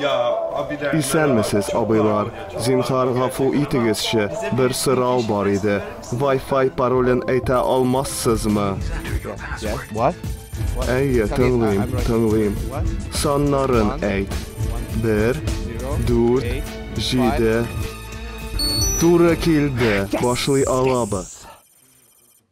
Исәнмесез, абыйлар. Зинһар гафу итегезче, бер сорау бар иде. Вай-фай паролен әйтә алмассызмы? Әйе, тыңлыйм, тыңлыйм. Саннарын әйт. Бер, дүрт, җиде. Туры килде, башлый алабыз.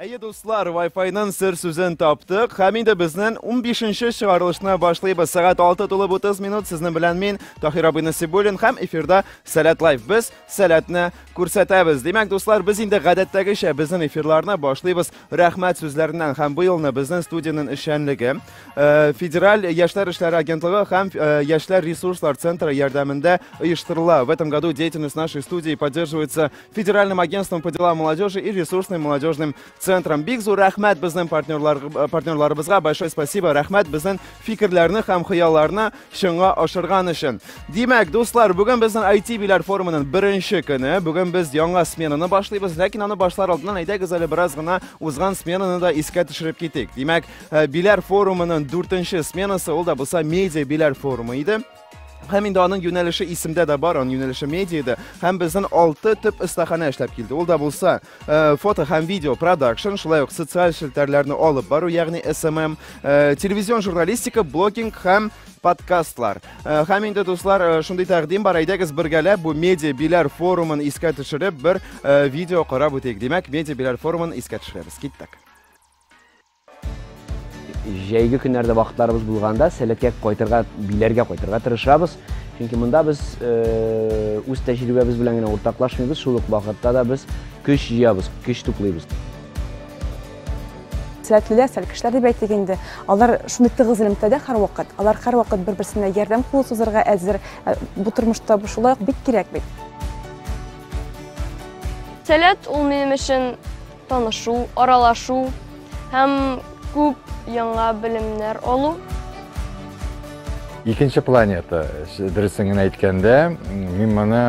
Әйе, дуслар, Wi-Fi-ның сер сүзен таптык һәм инде безнен унбишенче чыгарылышны башлыйбыз. Сәгать 6 тулып 30 минут. Сезнең белән мин, Таһир Абый Насибуллин һәм эфирда Сәләт Лайф. Без сәләтне күрсәтәбез. Димәк, дуслар, без инде гадәттәгечә безнен эфирларны башлыйбыз рәхмәт сүзләреннән һәм бу елны безнен студиянең эшчәнлеге э, Федераль яшьләр эшләре агентлыгы һәм э, яшьләр ресурслар центры ярдәмендә оештырыла. В этом году деятельность нашей студии поддерживается Федеральным агентством по делам молодежи и ресурсным молодежным центром. Бик зур рәхмәт безнең партнерлар, э, партнерларыбызга. Большое спасибо. Рәхмәт безнең фикерләрне һәм хыялларны чынга ашырган өчен. Димәк, дуслар, бүген безнең IT биләр форумының беренче көне. Бүген без яңа сменаны башлыйбыз, ләкин аны башлар алдыннан әйдәгез әле бераз гына узган сменаны да искә төшереп китик. Димәк, э, биләр форумының дүртенче сменасы ул да булса медиа биләр форумы иде. Һәм инде аның юнәлеше исемдә дә бар, аның юнәлеше медиада. Һәм безнең алты төп остахана эшләп килде. Ул да булса, э, фото һәм видео продакшн, шулай ук социаль челтәрләрне алып бару, ягъни SMM, э, телевизион журналистика, блогинг һәм подкастлар. Э, һәм инде дуслар, э, шундый тәкъдим бар, әйдәгез бергәләп бу медиа биләр форумын искә төшереп бер э, видео карап үтик. Димәк, медиа биләр форумын искә төшерәбез. Киттек. Җәйге көннәрдә вакытларыбыз булганда, сәләткә кайтырга, биләргә кайтырга тырышабыз. Чөнки монда без э, үз тәҗрибәбез белән генә уртаклашмыйбыз, шул ук вакытта да без көч җыябыз, көч туплыйбыз. Сәләтлеләр, сәлкешләр дип әйтик инде. Алар шундый тыгыз элемтәдә һәрвакыт. Алар һәрвакыт бер-берсенә ярдәм кулы сузарга әзер. Э, бу тормышта бу шулай ук бик кирәк бит. Сәләт ул минем өчен Танышу, аралашу һәм күп яңа белемнәр алу. Икенче планета, дөресен генә әйткәндә, мин моны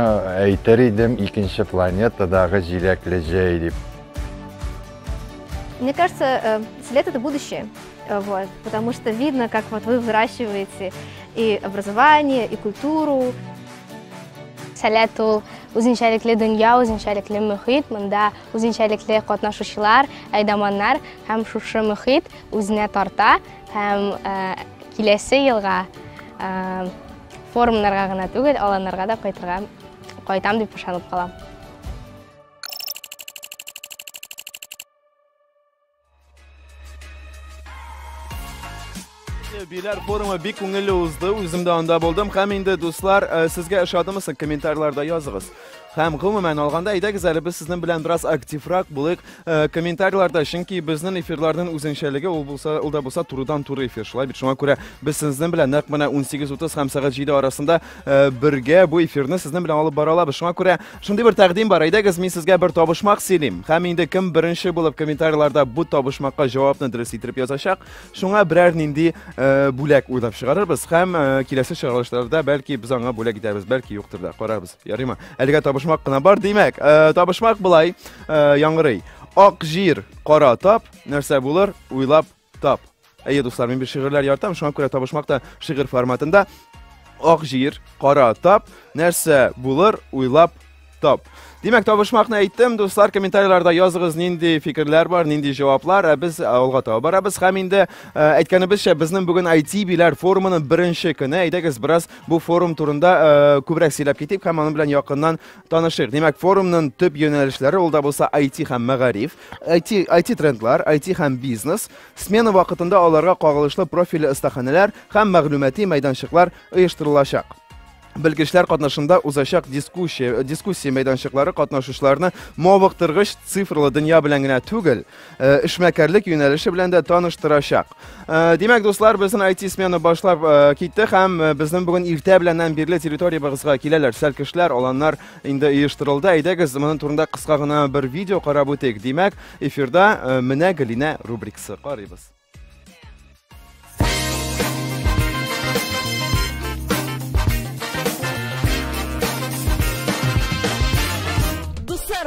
әйтер идем икенче планетадагы җиләкле җәй дип. Мне кажется, э, след это будущее. Э, вот, потому что видно, как вот вы выращиваете и образование, и культуру. Сәләт ул үзенчәлекле дөнья, үзенчәлекле мөхит, монда Үзенчәлекле катнашучылар, әйдаманнар һәм шушы мөхит үзенә тарта һәм киләсе елга форумнарга гына түгел, аланнарга да кайтырга кайтам дип ышанып калам. Биләр форумы бик күңелле узды, үзем дә анда булдым. Һәм инде дуслар, э, сезгә ошадымы соң комментарийларда языгыз. Һәм гомумән алганда, әйдәгез әле без сезнең белән бераз активрак булыйк э, комментарийларда, чөнки безнең эфирларның үзенчәлеге ул булса, ул да булса турыдан туры эфир. Шулай бит шуңа күрә без сезнең белән нәкъ менә 18:30 һәм сәгать 7 арасында э, бергә бу эфирны сезнең белән алып бара алабыз. Шуңа күрә Шундый бер тәкъдим бар. Әйдәгез, мин сезгә бер табышмак сөйлим. Һәм инде кем беренче булып комментарийларда бу табышмакка җавапны дөрес итеп язачак, шуңа берәр нинди э, бүләк уйлап чыгарырбыз һәм э, киләсе чыгарылышларда бәлки без аңа бүләк итәбез, бәлки юктыр да. Карарбыз. Ярыймы? Әлегә табышмак кына бар, димәк. Э, табышмак былай, э, яңгырый. Ак җир, кара тап, нәрсә булыр, уйлап Тап. Әйе, дуслар, мин бит шигырьләр яратам, шуңа күрә табышмак та шигырь форматында. Ак җир, кара тап, нәрсә булыр, уйлап тап. Димәк, табышмакны әйттем, дуслар, комментарийларда языгыз, нинди фикерләр бар, нинди җаваплар, ә без алга таба барабыз. Һәм инде әйткәнебезчә, безнең бүген IT-биләр форумының беренче көне. Әйдәгез, бераз бу форум турында күбрәк сөйләп китик һәм аның белән якыннан танышыйк. Димәк, форумның төп юнәлешләре ул да булса IT һәм мәгариф. IT, IT-трендлар, IT һәм бизнес, смена вакытында аларга кагылышлы профильле остаханәләр һәм мәгълүмати мәйданчыклар оештырылачак. Белгечләр катнашында узачак дискуссия, дискуссия мәйданчыклары катнашучыларны мавыктыргыч цифрлы дөнья белән генә түгел, э, эшмәкәрлек юнәлеше белән дә таныштырачак. Э, Димәк, дуслар, безнең IT смена башлап э, китте һәм э, безнең бүген иртә беләннән бирле территориябызга киләләр сәлкешләр, аланнар инде оештырылды. Әйдәгез, моның турында кыска гына бер видео карап үтик. Димәк, эфирда э, менә Гөлинә рубрикасы. Карыйбыз.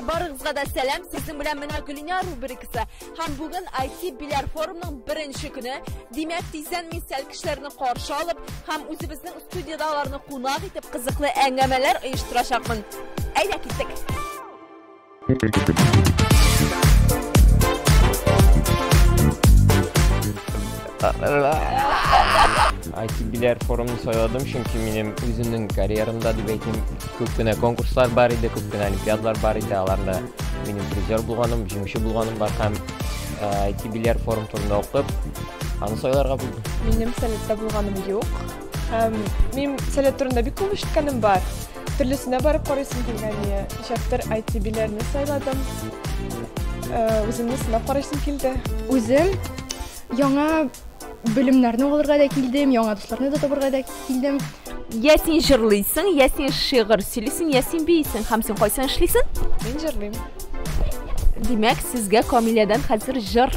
Барыгызга да сәлам. Сезнең белән менә Гөлинә рубрикасы. Һәм бүген IT Биләр форумның беренче көне. Димәк, тиздән мин сәл кешеләрне каршы алып һәм үзебезнең Студиядә аларны кунак итеп кызыклы әңгәмәләр оештырачакмын. Әйдә киттек! ITB-ләр форумын сайладым, чөнки минем үземнең карьерамда дип әйтим, күп кенә конкурслар бар иде, күп кенә олимпиадалар бар иде, аларда минем призер булганым, җиңүче булганым бар һәм ITB-ләр форум турында укып, аны сайларга булдым. Минем советта булганым юк. Һәм мин сәләт турында бик күп ишеткәнем бар. Төрлесенә барып карыйсың килгәне. Ничәктер IT-биләрне сайладым. Э, Үземне сынап карыйсым килде. Үзем яңа белемнәрне алырга да килдем, яңа дусларны да табырга да килдем. Я син җырлыйсың, я син шигырь сөйлисең, я син биисең һәм син кайсын эшлисең? Мин җырлыйм. Димәк, сезгә Камиләдән хәзер җыр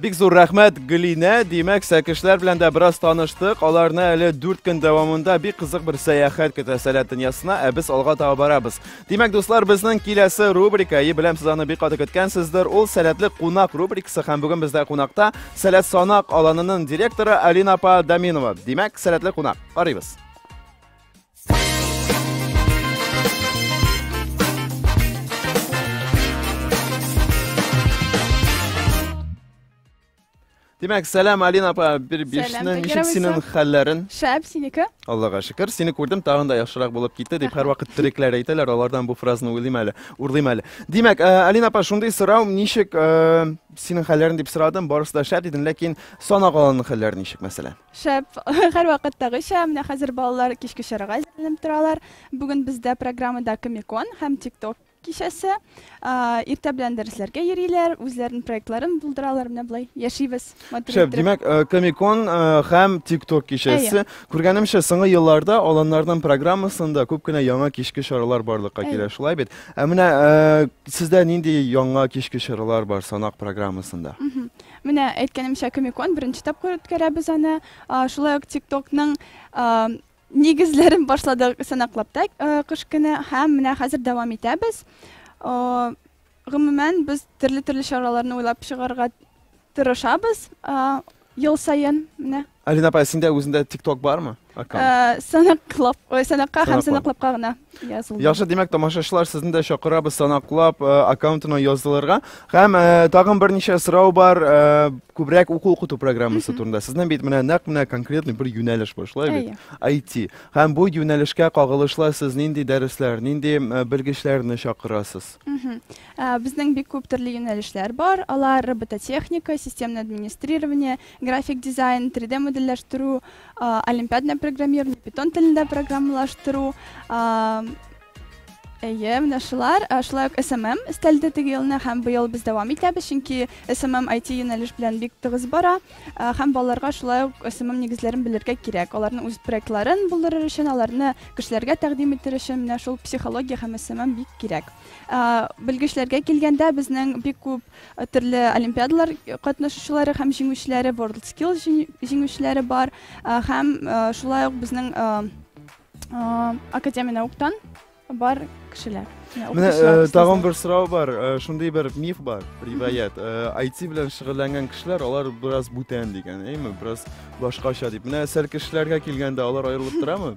Бик зур рәхмәт, Гөлинә. Димәк, сәкешләр белән дә бераз таныштык. Аларны әле дүрт көн дәвамында бик кызык бер сәяхәт көтә сәләт дөньясына, ә без алга таба барабыз. Димәк, дуслар, безнең киләсе рубрика, и беләм, сез аны бик каты көткәнсездер, ул сәләтле кунак рубрикасы һәм бүген бездә кунакта сәләт санак аланының директоры Алина апа Даминова. Димәк, сәләтле кунак. Карыйбыз. Димәк, сәлам, Алина апа, бер бишнең ничек синең хәлләрен? Шәп, синеке? Аллага шөкер, сине күрдем, тагын да яхшырак булып китте, дип һәр вакыт төрекләр әйтәләр, алардан бу фразаны уйлыйм әле, урлыйм әле. Димәк, э, Алина апа, шундый сорау, ничек э, синең хәлләрен дип сорадым, барысы да шәп дидең, ләкин санак алының хәлләре ничек, мәсәлән? Шәп! Һәрвакыттагыча, менә хәзер балалар кичке чарага әзерләнеп торалар. Бүген бездә программада Комикон һәм ТикТок кичәсе. Иртә белән дәресләргә йөриләр, үзләренең проектларын булдыралар. Менә болай яшибез. Шәп, димәк, э, Комикон э, һәм ТикТок кичәсе. Күргәнемчә, соңгы елларда аланнарның программасында күп кенә яңа кичке чаралар барлыкка килә, шулай бит? Ә менә э, сездә нинди яңа кичке чаралар бар санак программасында? Менә әйткәнемчә, Комикон беренче тапкыр үткәрәбез аны. Шулай ук ТикТокның нигезләрен башладык Санаклапта кыш көне һәм менә хәзер дәвам итәбез. Гомумән, без төрле-төрле чараларны уйлап чыгарга тырышабыз ел саен. Менә Алина апай, синдә үзендә TikTok бармы? Аккаунт. Э, Санаклап, ой, санакка һәм Санаклап. санаклапка гына язылды. Яхшы, димәк, тамашачылар сезне дә чакырабыз санаклап э, аккаунтына язылырга. Һәм э, тагын берничә сорау бар, э, күбрәк уку укыту программасы турында. Сезнең бит менә нәкъ менә конкретный бер юнәлеш бар, шулай бит? IT. Һәм бу юнәлешкә кагылышлы сез нинди дәресләр, нинди э, белгечләрне чакырасыз? Мгм. Ә, Безнең бик күп төрле юнәлешләр бар. Алар робототехника, системное администрирование, График дизайн, 3D модельләштерү, олимпиадное программирование, питон телендә программалаштыру, Әйе, менә шулар. Шулай ук SMM өстәлде теге елны һәм быел без дәвам итәбез, чөнки SMM IT юнәлеш белән бик тыгыз бара һәм балаларга шулай ук SMM нигезләрен белергә кирәк. Аларның үз проектларын булдырыр өчен, аларны кешеләргә тәкъдим итер өчен менә шул психология һәм SMM бик кирәк. Белгечләргә килгәндә, безнең бик күп Төрле олимпиадалар катнашучылары һәм җиңүчеләре, WorldSkills җиң- җиңүчеләре бар. Ә, Һәм э, шулай ук безнең э, э, Академия науктан бар кешеләр. Менә Менә укытучылар, э, тагын остазлар. бер сорау бар. Э, Шундый бер миф бар, риваять. Э, IT белән шөгыльләнгән кешеләр, алар бераз бүтән дигән, әйме, бераз башкача дип. Менә сәл кешеләргә килгәндә, алар аерылып торамы?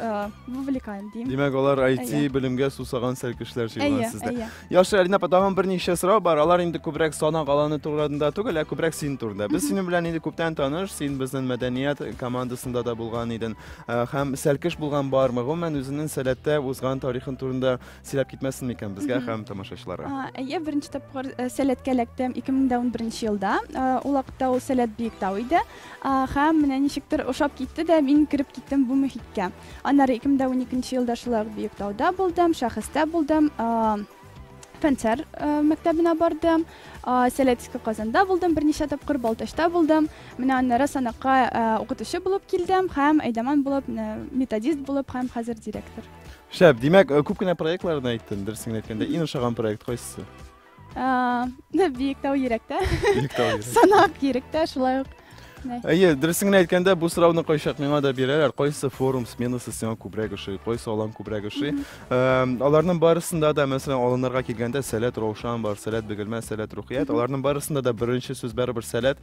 э, вовлекаем дим. Димәк, алар IT белемгә сусаган сәл кешеләр җыелган сездә. Әйе, Яхшы, Алина апа, тагын берничә сорау бар. Алар инде күбрәк санак аланы турында түгел, ә күбрәк син турында. Без синең белән инде күптән таныш, син безнең мәдәният командасында да булган идең. Э, һәм сәлкеш булган бармы? Гомумән үзенең сәләттә узган тарихын турында сөйләп китмәсен микән безгә һәм тамашачыларга? Әйе, беренче тапкыр э, сәләткә эләктем 2011 елда. Ул вакытта ул сәләт Биектау иде. Һәм менә ничектер ошап китте дә, мин кереп киттем бу мөхиткә. Аннары 2012 елда шулай ук Биектауда булдым, Шәхестә булдым, Фәнсәр мәктәбенә бардым, Сәләтиске Казанда булдым, берничә тапкыр Балтачта булдым. Менә аннары санакка укытучы булып килдем һәм Әйдәман булып, методист булып һәм хәзер директор. Шәп, димәк, күп кенә проектларны әйттем, дөресен әйткәндә, иң ошаган проект кайсы? Биектау йөрәктә. Биектау йөрәктә. Санак йөрәктә шулай ук. Әйе, дөресен генә әйткәндә, бу сорауны кайчак миңа да бирәләр. Кайсы форум сменасы сиңа күбрәк ошый, кайсы алан күбрәк ошый? Аларның барысында да, мәсәлән, аланнарга килгәндә, сәләт Раушан бар, сәләт Бөгелмә, сәләт Рухият. Аларның барысында да беренче сүз барыбер сәләт.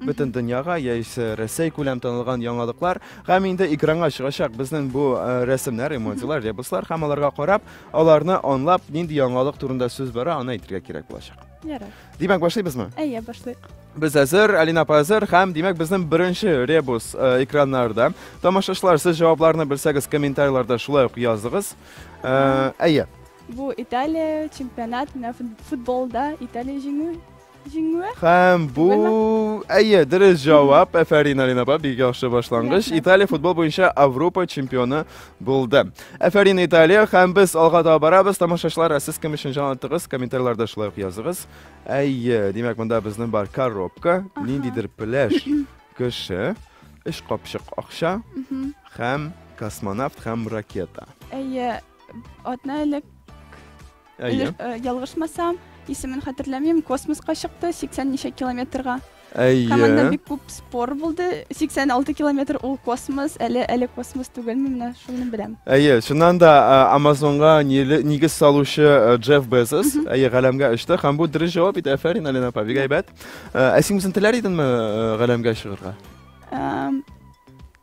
бөтен дөньяга яисә Рәсәй күләм танылган яңалыклар һәм инде экранга чыгачак безнең бу э, рәсемнәр, эмодзилар, ребуслар һәм аларга карап, аларны анлап, нинди яңалык турында сүз бара, аны әйтергә кирәк булачак. Ярар. Димәк, башлыйбызмы? Әйе, башлыйк. Без әзер, Алина апа әзер һәм димәк безнең беренче ребус э, экраннарда. Тамашачылар, сез җавапларны белсәгез, комментарийларда шулай ук языгыз. Э, Әйе. Бу Италия чемпионат, менә футболда Италия җиңү Җиңүе? Һәм бу әйе, дөрес җавап. Әфәрин, Алина апа, бик яхшы башлангыч. Италия футбол буенча Авропа чемпионы булды. Әфәрин, Италия, һәм без алга таба барабыз. Тамашачылар, ә сез кем өчен җан аттыгыз? Комментарийларда шулай ук языгыз. Әйе, димәк, монда безнең бар коробка, ниндидер пляж кеше, өч капчык акча Мгм. һәм космонавт һәм ракета. Әйе, атна элек Әйе. Э, ялгышмасам, исемен хәтерләмим, космоска чыкты 80 ничә километрга. Әйе. Команда бик күп спор булды. 86 километр ул космос, әле әле космос түгелме, менә шуны беләм. Әйе, шуннан да э, Амазонга нигез салучы э, Джефф Безос, әйе, галәмгә очты һәм бу дөрес җавап иде. Афәрин, Алина апа, бик әйбәт. Ә син үзең теләр идеңме галәмгә чыгарга?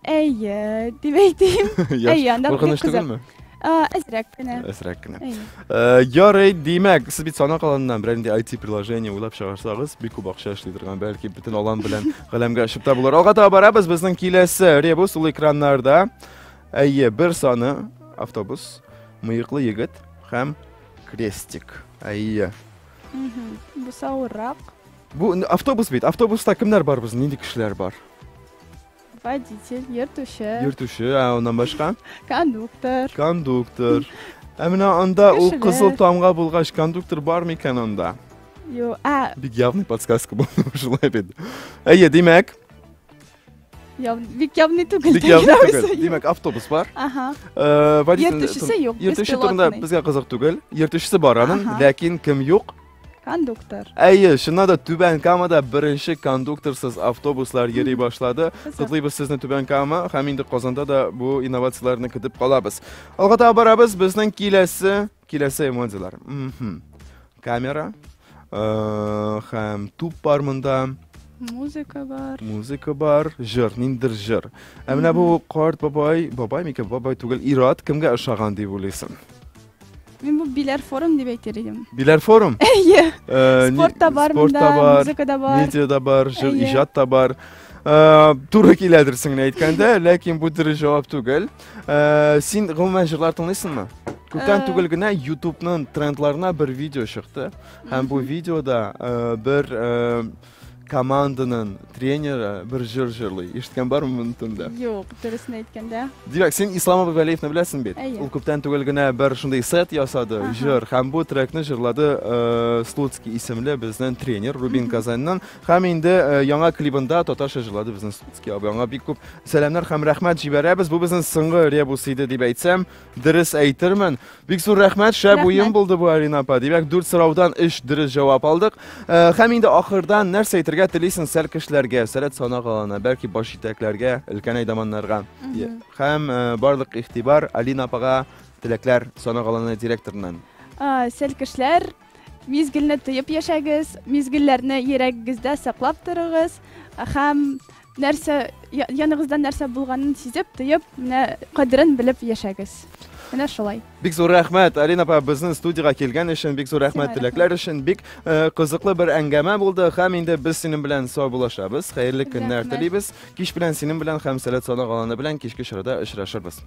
Әйе, дип әйтим. Әйе, анда бик Куркыныч кызык. түгелме? А, Әзрәк кенә. Әзрәк кенә. Әйе. Э, Ярый, димәк, сез бит санак аланыннан берәр нинди IT приложение уйлап чыгарсагыз, бик күп акча эшли торган, бәлки бөтен алан белән галәмгә очып та булыр. Алга таба барабыз, безнең киләсе ребус ул экраннарда. Әйе, бер саны автобус, мыеклы егет һәм крестик. Әйе. Мгм. Бу савыррак. Бу н- автобус бит. Автобуста кемнәр бар безнең? Нинди кешеләр бар? Водитель, йөртүче. Йөртүче, ә аннан башка? Кондуктор. Кондуктор. Ә менә анда ул кызыл тамга булгач, кондуктор бар микән анда? Юк, а. Бик явный подсказка булды шулай бит. Әйе, димәк. Яв... Бик явный түгел. Бик явный түгел. Димәк, автобус бар. Ага. Э, Йөртүчесе юк. Йөртүче турында безгә кызык түгел. Йөртүчесе бар аның, ләкин кем юк? кондуктор әйе чыннан да түбән камада беренче кондукторсыз автобуслар йөри башлады котлыйбыз сезне түбән кама һәм инде казанда да бу инновацияләрне көтеп калабыз алга таба барабыз безнең киләсе киләсе эмоцияләр камера э, һәм туп бар монда музыка бар музыка бар жыр ниндидер жыр ә менә бу карт бабай бабай микән бабай түгел ират кемгә ошаган дип уйлыйсың Мин бу биләр форум дип әйтер идем. Биләр форум? Әйе. Э, спорт та бар монда, музыка да бар. Медиа да бар, жыр иҗат та бар. Э, туры киләдер син генә әйткәндә, ләкин бу дөрес җавап түгел. Э, син гомумән җырлар тыңлыйсыңмы? Күптән түгел генә YouTube-ның трендларына бер видео чыкты. Һәм бу видеода бер Команданың тренеры бер җыр җырлый. Ишеткән бармы моны турында? Юк, дөресен әйткәндә. Димәк, син Ислам абый Вәлиевны беләсең бит? Әйе. Ул күптән түгел генә бер шундый сет ясады, Ага. җыр. Һәм бу трекны җырлады э, Слуцкий исемле безнең тренер Рубин Казаньнан. Һәм инде э, яңа клибында татарча җырлады безнең Слуцкий абый. Аңа бик күп сәламнәр һәм рәхмәт җибәрәбез. Бу безнең соңгы ребус иде дип әйтсәм, Дөрес әйтермен. Бик зур рәхмәт, шәп уен булды бу Арина апа. Димәк, дүрт сораудан өч дөрес җавап алдык. Э, һәм инде ахырдан нәрсә әйтергә телисең сәл кешеләргә, сәләт санак алана, бәлки баш җитәкләргә, өлкән әйдаманнарга. Һәм э, барлык игътибар Алина апага теләкләр санак аланы директорыннан. Э, сәл кешеләр Мизгелне тоеп яшәгез, мизгелләрне йөрәгегездә саклап торыгыз һәм нәрсә яныңызда нәрсә булганын сизеп, тоеп, менә кадерен белеп яшәгез. Менә шулай. Бик зур рәхмәт, Алина апа, безнең студиягә килгән өчен, бик зур рәхмәт теләкләр өчен. Бик э, кызыклы бер әңгәмә булды һәм инде без синең белән саубуллашабыз. Хәерле көннәр телибез. Кич белән синең белән һәм Сәләт Сана галаны белән кичке чарада очрашырбыз.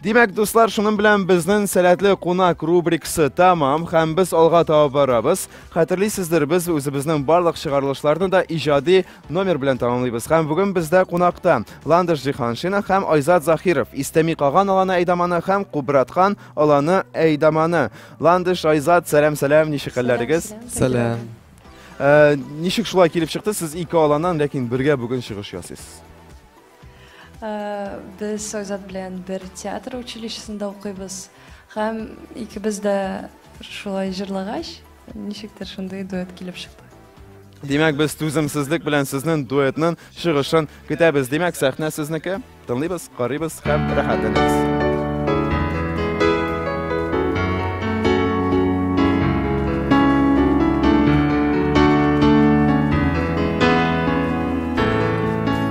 Димәк, дуслар, шуның белән безнең сәләтле кунак рубрикасы тәмам һәм без алга таба барабыз. Хәтерлисездер, без үзебезнең барлык чыгарылышларны да иҗади номер белән тәмамлыйбыз. Һәм бүген бездә кунакта Ландыш Җиханшина һәм Айзат Захиров. Истәми каган аланы әйдаманы һәм кубраткан аланы әйдаманы. Ландыш, Айзат, сәлам, сәлам, ничек хәлләрегез? Сәлам. Э, ничек шулай килеп чыкты? Сез ике аланнан, ләкин бергә бүген чыгыш ясыйсыз. Без Айзат белән бер театр училищесында укыйбыз. Һәм икебез дә шулай җырлагач, ничектер шундый дуэт килеп чыкты. Димәк, без түземсезлек белән сезнең дуэтның чыгышын көтәбез. Димәк, сәхнә сезнеке. Тыңлыйбыз, карыйбыз һәм рәхәтләнәбез.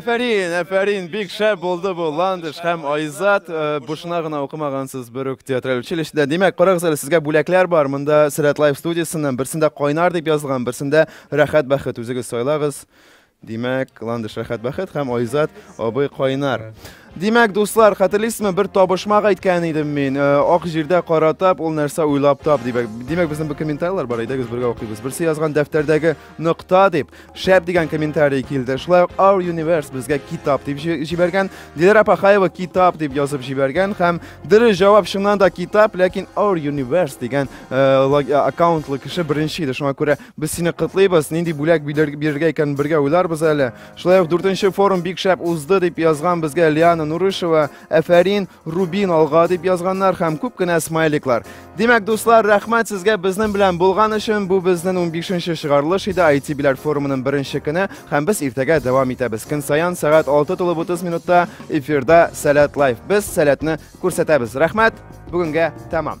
Әфәрин, әфәрин, бик шәп булды бу Ландыш һәм Айзат. Э, бушына гына укымагансыз Бөрүк театраль училищеда. Димәк, карагыз әле, сезгә бүләкләр бар. Монда Сират Лайф студиясеннән берсендә кайнар дип язылган, берсендә рәхәт бәхет. Үзегез сайлагыз. Димәк, Ландыш Рәхәт Бәхет һәм Айзат абый кайнар. Димәк, дуслар, хәтерлисезме, бер табышмак әйткән идем мин. Э, ак җирдә кара тап, ул нәрсә уйлап тап дибәк. Димәк, безнең бу комментарийлар бар, әйдәгез бергә укыйбыз. Берсе язган дәфтәрдәге нокта дип, шәп дигән комментарий килде. Шулай ук Our Universe безгә китап дип җибәргән. Диләр Апахаева китап дип язып җибәргән һәм дөрес җавап чыннан да китап, ләкин Our Universe дигән э, э, аккаунтлы кеше беренче иде. Шуңа күрә Без сине котлыйбыз, нинди бүләк бирергә икән бергә уйларбыз әле. Шулай ук дүртенче форум бик шәп узды дип язган безгә Лиана Нурышева, әфәрин, Рубин алга дип язганнар һәм күп кенә смайликлар. Димәк, дуслар, рәхмәт сезгә безнең белән булган өчен. Бу безнең 15-нче чыгарылыш иде IT биләр форумының беренче көне һәм без иртәгә дәвам итәбез. Көн саян сәгать 6:30 минутта эфирда Сәләт лайф. Без Сәләтне күрсәтәбез. Рәхмәт. Бүгенгә тәмам.